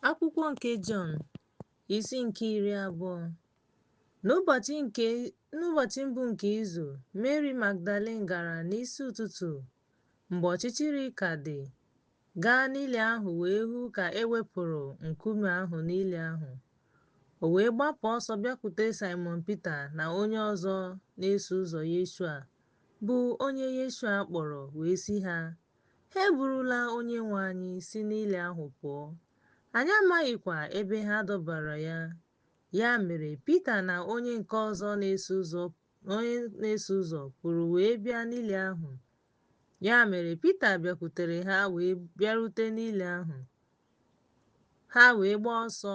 Akwụkwọ nke Jọn isi nke iri abụọ n'ụbọchị nke n'ụbọchị mbụ nke izu Mary Magdalene gara n'isi ụtụtụ mgbe ọchịchịrị ka dị gaa n'ili ahụ wee hụ ka e wepụrụ nkume ahụ n'ili ahụ o wee gbapụ ọsọ bịakwute Simon Pita na onye ọzọ na-eso ụzọ Yeshua bụ onye Yeshua kpọrọ wee sị ha Ha eburula Onyenwe anyị si n'ili ahụ pụọ, anyị amaghịkwa ebe ha dọbara ya. Ya mere, Pita na onye nke ọzọ na-eso ụzọ onye na-eso ụzọ pụrụ wee bịa n'ili ahụ. Ya mere, Pita bịakwutere ha wee bịarute n'ili ahụ. Ha wee gbaa ọsọ,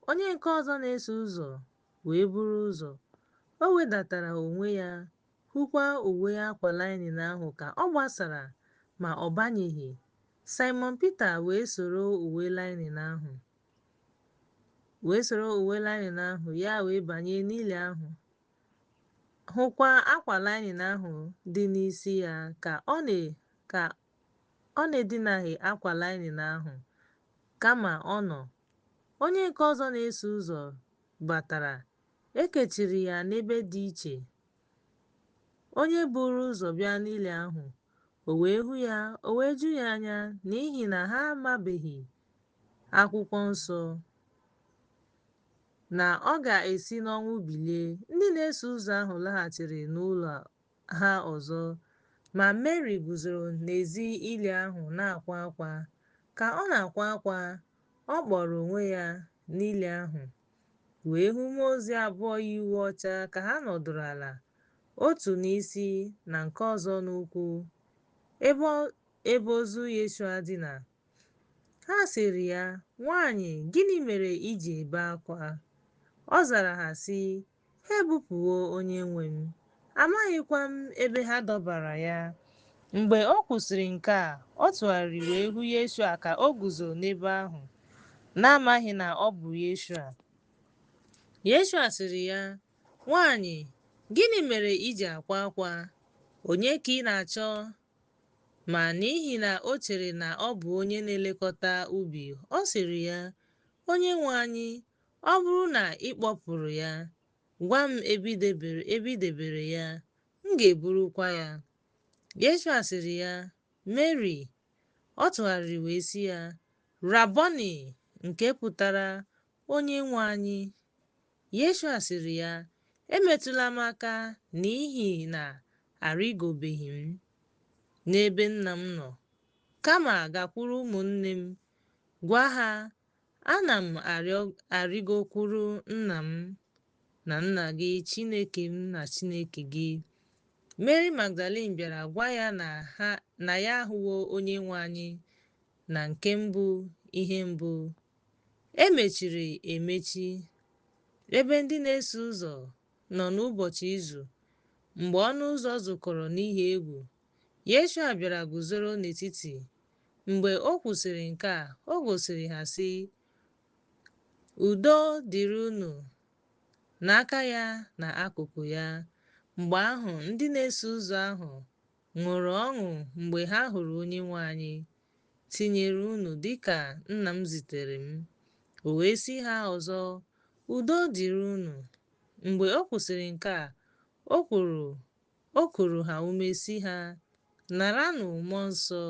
onye nke ọzọ na-eso ụzọ wee buru ụzọ. O wedatara onwe ya hụkwa uwe akwa lainin ahụ ka ọ gbasara, ma ọ banyeghị. Simon Pita wee soro uwe lainin ahụ, wee soro uwe lainin ahụ ya wee banye n'ili ahụ, hụkwa akwa lainin ahụ dị n'isi ya ka ọ na ka ọ na-edinaghị akwa lainin ahụ, kama ọ nọ. Onye nke ọzọ na-eso ụzọ batara E kechiri ya n'ebe dị iche. Onye buru ụzọ bịa n'ili ahụ, o wee hụ ya, o wee ju ya anya n'ihi na ha amabeghị akwụkwọ nsọ na ọ ga-esi n'ọnwụ bilie. Ndị na-eso ụzọ ahụ laghachiri n'ụlọ ha ọzọ, ma Meri guzoro n'ezi ili ahụ na-akwa akwa. Ka ọ na-akwa akwa, ọ kpọrọ onwe ya n'ili ahụ. wee hụ mmụọ ozi abụọ yi uwe ọcha ka ha nọdụrụ ala, otu n'isi na nke ọzọ n'ụkwụ, ebe ebe ozu Yeshua dina. Ha sịrị ya, Nwanyị, gịnị mere i ji ebe akwa? Ọ zara ha sị, Ha ebupụwo onyenwe m, amaghịkwa m ebe ha dọbara ya. Mgbe o kwusịrị nke a, ọ tụgharịrị wee hụ Yeshua ka o guzo n'ebe ahụ, na-amaghị na ọ bụ Yeshua. Yeshua sịrị ya, Nwaanyị, gịnị mere i ji akwa akwa? Onye ka ị na-achọ? Ma n'ihi na o chere na ọ bụ onye na-elekọta ubi, ọ sịrị ya, Onyenwe anyị, Ọ bụrụ na ị kpọpụrụ ya, gwa m ebe i debere ya, m ga-eburukwa ya. Yeshua sịrị ya, Meri. Ọ tụgharịrị wee sị ya, Rabọni, nke pụtara onye nwe anyị. Yeshua sịrị ya, Emetụla m aka n'ihi na arịgobeghị m n'ebe nna m nọ, kama gakwuru ụmụnne m, gwa ha Ana m arịgokwuru nna m na nna gị, Chineke m na Chineke gị. Meri Magdalin bịara gwa ya na ya ahụwo Onyenwe anyị na nke mbụ ihe mbụ. E mechiri emechi ebe ndị na-eso ụzọ nọ n'ụbọchị izu mgbe ọnụ ụzọ zukọrọ n'ihi egwu Yeshua bịara guzoro n'etiti. Mgbe o kwusịrị nke a, o gosiri ha, sị, Udo dịrị unu! n'aka ya na akụkụ ya. Mgbe ahụ ndị na-eso ụzọ ahụ ṅụrụ ọṅụ mgbe ha hụrụ Onyenwe anyị. Tinyere unu dị ka Nna m zitere m. O wee sị ha ọzọ, Udo dịrị unu! Mgbe o kwusịrị nke a, o kwuru O kuru ha ume sị ha, Naranụ Mmụọ Nsọ.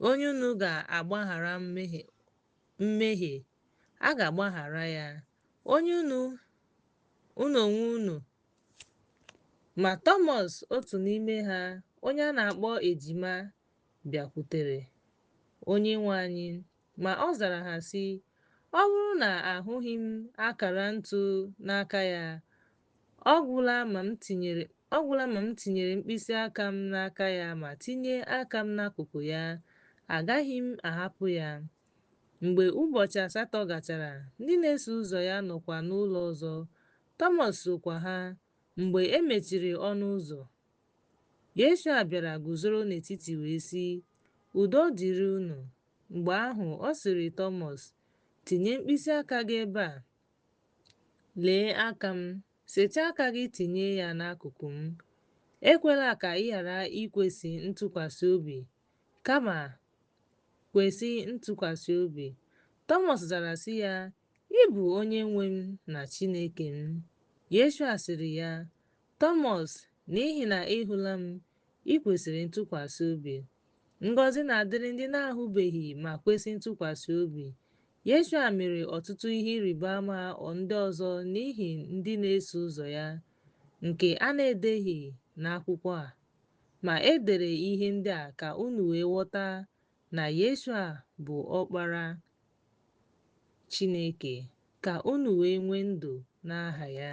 Onye unu ga-agbaghara mmehie, a ga-agbaghara ya. Onye unu unu onwe unu. Ma Tọmọs otu n'ime ha, onye a na-akpọ Ejima, bịakwutere Onyenwe anyị. Ma ọ zara ha sị, Ọ bụrụ na ahụghị m akara ntu n'aka ya, Ọ gwụla ma m tinyere mkpịsị aka m n'aka ya ma tinye aka m n'akụkụ ya, agaghị m ahapụ ya. Mgbe ụbọchị asatọ gachara, ndị na-eso ụzọ ya nọkwa n'ụlọ ọzọ, Tọmọs sokwa ha. Mgbe e mechiri ọnụ ụzọ, Yeshua bịara guzoro n'etiti wee sị, Udo dịrị unu! Mgbe ahụ, ọ sịrị Tọmọs, Tinye mkpịsị aka gị ebe a, Lee aka m, setịa aka gị tinye ya n'akụkụ m. Ekwela ka ị ghara ikwesị ntụkwasị obi, kama kwesị ntụkwasị obi. Tọmọs zara sị ya, Ị bụ onye nwe m na Chineke m. Yeshua sịrị ya, Thomas, n'ihi na ị hụla m, i kwesịrị ntụkwasị obi. Ngọzi na-adịrị ndị na-ahụbeghị ma kwesị ntụkwasị obi. Yeshua mere ọtụtụ ihe ịrịba ama ọ ndị ọzọ n'ihi ndị na-eso ụzọ ya, nke a na-edeghị n'akwụkwọ a. Ma e dere ihe ndị a ka unu wee ghọta na Yeshua bụ Ọkpara Chineke, ka unu wee nwee ndụ n'aha ya.